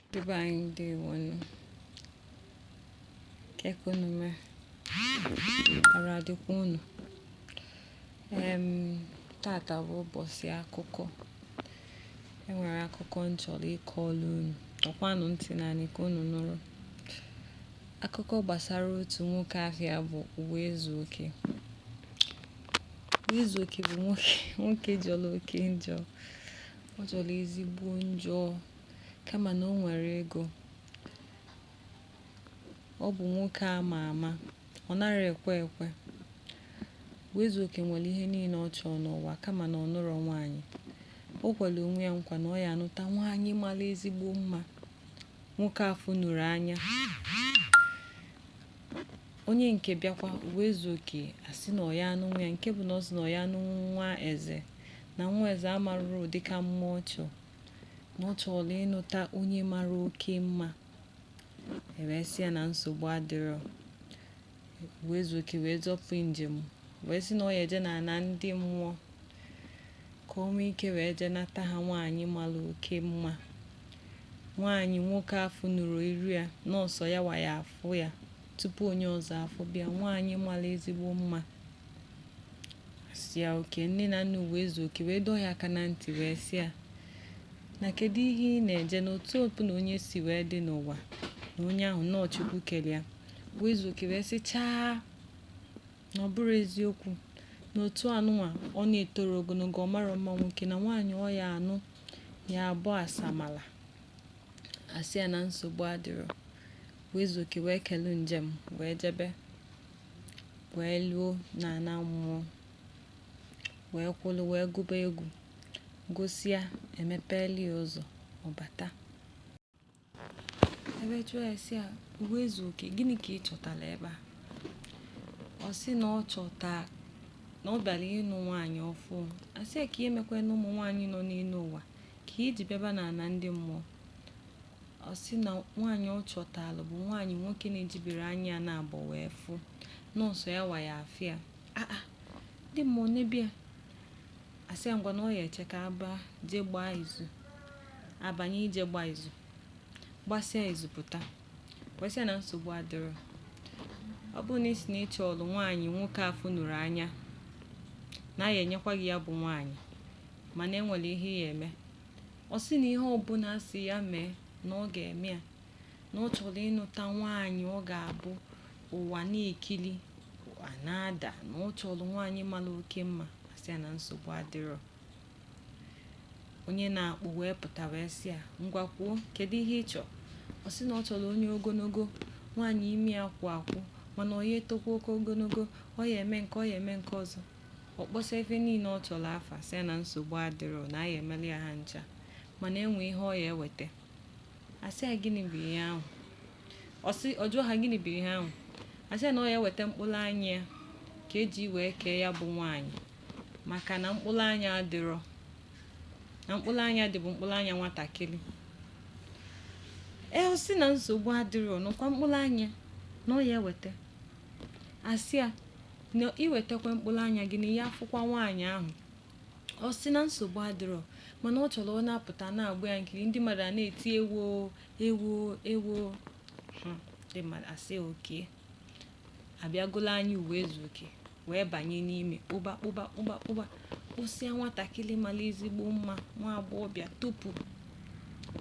Ndị be anyị ndewonu. Kee ka unu mee? Arụ adịkwa unu? Em, tata bụ ụbọchị akụkọ. E nwere akụkọ m chọrọ ịkọrọ unu. Tọkwanụ ntị n'anị ka unu nụrụ. Akụkọ gbasara otu nwoke afa ya bụ Ụwaezuoke. Ụwaezuoke bụ nwoke jọrọ oke njọ. Ọ jọrọ ezigbo njọ. kama na o nwere ego. Ọ bụ nwoke a ma ama. Ọ nara ekwe ekwe. Ụwaezuoke nwere ihe niile ọ chọrọ n'ụwa kama na ọ nụrọ nwaanyị. O kwere onwe ya nkwa na ọ ya anụta nwaanyị mara ezigbo mma. Nwoke afụnuru anya. Onye nke bịakwa Ụwaezuoke asị na ọ ya anụnwu ya nke bụ na ọ sị na ọ ya anụnwu nwa eze na nwa eze amaruru ụdị ka mma ọ chọrọ. na ọ chọrọ ịnụta onye mara oke mma e wee sị ya na nsogbu adịrọ Ụwaezuoke wee zọpụ njem wee sị na ọ ya eje n'ana ndị mmụọ ka o nwee ike wee jee nata ha nwaanyị mara oke mma nwaanyị nwoke afụnuru iru ya na ọọ sọ ya wa ya afụ ya tupu onye ọzọ afụba ya nwaanyị mara ezigbo mma asị ya okay nne na nna Ụwaezuoke wee dọọ ya aka na ntị wee sị ya na kedu ihe ị na-eje na otu ọbụna onye si wee dị n'ụwa na onye ahụ na ọọ chukwu kere ya Ụwaezuoke wee sị chaa na ọ bụrụ eziokwu na otu a nụnwa ọ na-etoro ogologo ọ mara mma nwoke na nwaanyị ọ ya anụ ya abụ asamala asị ya na nsogbu adịrọ Ụwaezuoke wee kelu njem wee jebe wee luo n'ana mmụọ wee kwụlụ wee gụba egwu gụsịa emepelụ ya ụzọ ọ bata e wee jụọ ya sị ya Ụwaezuoke gịnị ka ị chọtara ebe a ọ sị na ọ chọta na ọ bịara ịnụ nwaanyị ọfụụ asị ya kee ihe mekwanụ ụmụ nwaanyị nọ n'elu ụwa Ka i ji bịaba n'ana ndị mmụọ, ọ sị na nwaanyị ọ chọtalụ bụ nwaanyị nwoke na-ejibere anya ya naabọ wee fụ na ọọ sọ ya wa ya afụ ya aa ndị mmụọ nebe ya asị ya ngwa na ọ ya eche ka a baa jee gbaa izu a banye jee gbaa izu gbasịa izu pụta wee sị ya na nsogbu adịrọ ọ bụrụ na ị sị na ị chọlụ nwaanyị nwoke afụnuru anya na a ya enyekwa gị ya bụ nwaanyị mana e nwere ihe ya eme ọ sị na ihe ọbụla asị ya mee na ọ ga-eme ya na ọ chọrọ ịnụta nwaanyị ọ ga-abụ ụwa na-ekili ụwa na-ada na ọ chọrọ nwaanyị mara oke mma asị ya na nsogbu adịrọ onye na-akpụ wee pụta wee sị ya ngwa kwuo kedu ihe ị chọrọ ọ sị na ọ chọrọ onye ogologo nwaanyị imi ya kwụ akwụ mana ọ ya etokwa oke ogologo ọ ya eme nke ọ ya eme nke ọzọ Ọ kpọsa ife niile ọ chọrọ afa sị na nsogbu adịrọ na a ya emeli ya ha ncha mana enwe ihe ọ ya eweta asị ya gịnị bụ ihe ahụ ọ jụọ ha gịnị bụ ihe ahụ asị ya na ọ ya eweta mkpụrụ anya ya ka eji wee kee ya bụ nwaanyị maka na mkpụrụ anya adịrọ na mkpụrụ anya dị bụ mkpụrụ anya nwatakịrị ọ sị na nsogbu adịrọ na ọkwa mkpụrụ anya na ọ ya eweta asị ya na iwetakwa mkpụrụ anya gị na ị ya afụkwa nwaanyị ahụ ọ sị na nsogbu adịrọ mana ọ chọrọ ọ na-apụta na-agba ya nkiri ndị mmadụ a na-eti ewo ewo ewo Hmm, ndị mmadụ asị okay abịagolo anya Ụwaezuoke wee banye n'ime kpụba kpụba kpụba kpụba kpụsịa nwatakịrị mara ezigbo mma nwa agbọghọbịa tupu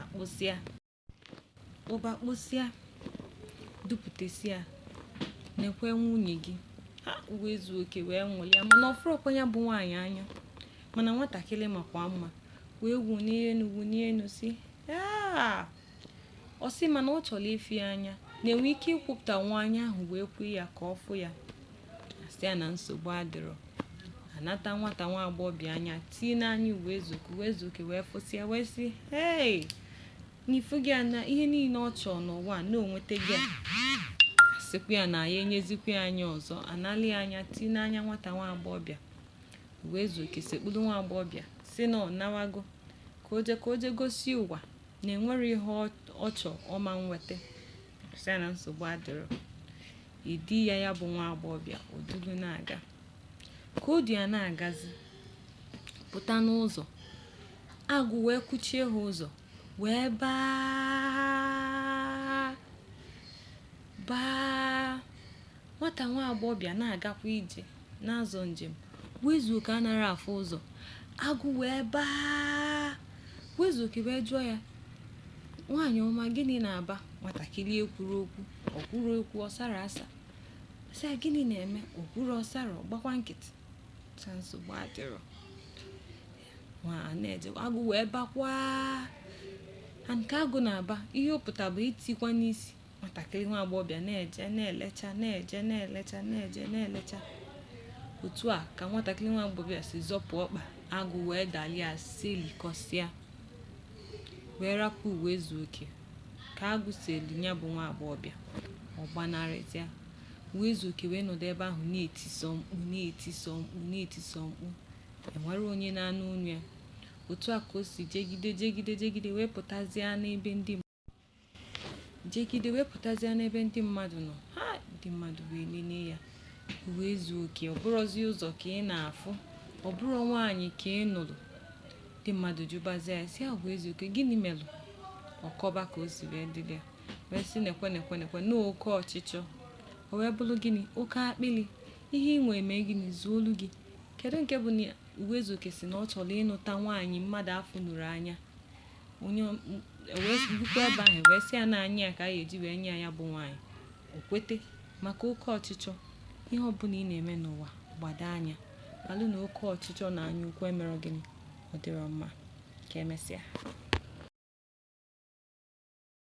akpụsịa Kpụba kpụsịa, dupụtasịa, nekwa nwunye gị. Ha Ụwaezuoke wee nwụlịa mana ọ fụrọkwa ya bụ nwaanyị anya mana nwatakịrị makwa mma wee wunie enu wunie enu sị "Ah!" ọ sị mana ọ chọrọ ịfụ ya anya na enwe ike ikwupụta nwa anya ahụ wee kwui ya ka ọ fụ ya asị ya na nsogbu adịrọ anata nwata nwa agbọghọbịa anya tii n'anya Ụwaezuoke Ụwaezuoke wee fụsịa wee sị hei na ị fụgo ya na ihe niile ọ chọọ n'ụwa na o nwetago ya asịkwa ya na ya enyezikwa ya anya ọzọ anali ya anya tii n'anya nwata nwa agbọghọbịa Ụwaezuoke sekpụrụ nwa agbọghọbịa sị na ọ nawago ka o je ka o je gosi ụwa na enwerọ ihe ọ chọọ ọ ma nweta asị ya na nsogbu adịrọ edui ya ya bụ nwa agbọghọbịa o dulu na-aga ka o du ya na-agazi pụta n'ụzọ agụ wee kwụchie ha ụzọ wee baa baa nwata nwa agbọghọbịa na-agakwa ije na-azọ njem Ụwaezuoke anarọ afụ ụzọ agụ wee baa Ụwaezuoke wee jụọ ya nwaanyị ọma gịnị na-aba nwatakịrị ekwurọ okwu o kwurọ okwu ọ sarọ asa sị ya gịnị na-eme o kwurọ ọ sarọ ọ gbakwa nkịtị sị nsogbu adịrọ nwa na-eje agụ wee bakwaa ha nke agụ na-aba ihe ọ pụta bụ itikwa n'isi nwatakịrị nwa agbọghọbịa na-eje na-elecha na-eje na-elecha na-eje na-elecha otu a ka nwatakịrị nwa agbọghọbịa si zọpụ ọkpa agụ wee dalia silikọsịa wee rapụ ụwaezuoke ka agụ si eli ya bụ nwa agbọghọbịa ọ gbanarịzịa ụwaezuoke wee nọdụ ebe ahụ na-etisọ mkpu na-etisọ mkpu na-etisọ mkpu enwerọ onye na-anụ olu ya otu a ka o si jegide jegide jegide wee pụtazie n'ebe ndị jegide wee pụtazịa n'ebe ndị mmadụ nọ ha ndị mmadụ wee lelee ya ụwaezuoke ọ bụrọzi ụzọ ka ị na-afụ ọ bụrọ nwaanyị ka ị nụrụ ndị mmadụ jụbazịa ya sị ya ụwaezuoke gịnị melụ ọ kọba ka o si wee dịrị ya wee sị nekwe nekwe nekwe na oke ọchịchọ o wee bụrụ gịnị oke akpịrị ihe ị nwee mee gịnị zuolu gị kedu nke bụ na ụwaezuoke sị na ọ chọrọ ịnụta nwaanyị mmadụ afụnurọ anya onye bukwa ebe ahụ wee sị ya na anya ya ka a ga-eji wee nye ya bụ nwaanyị o kwete maka oke ọchịchọ ihe ọbụla ị na-eme n'ụwa gbado anya malụ na oke ọchịchọ na anya ukwu emerọ gịnị ọ dịrọ mma ka emesịa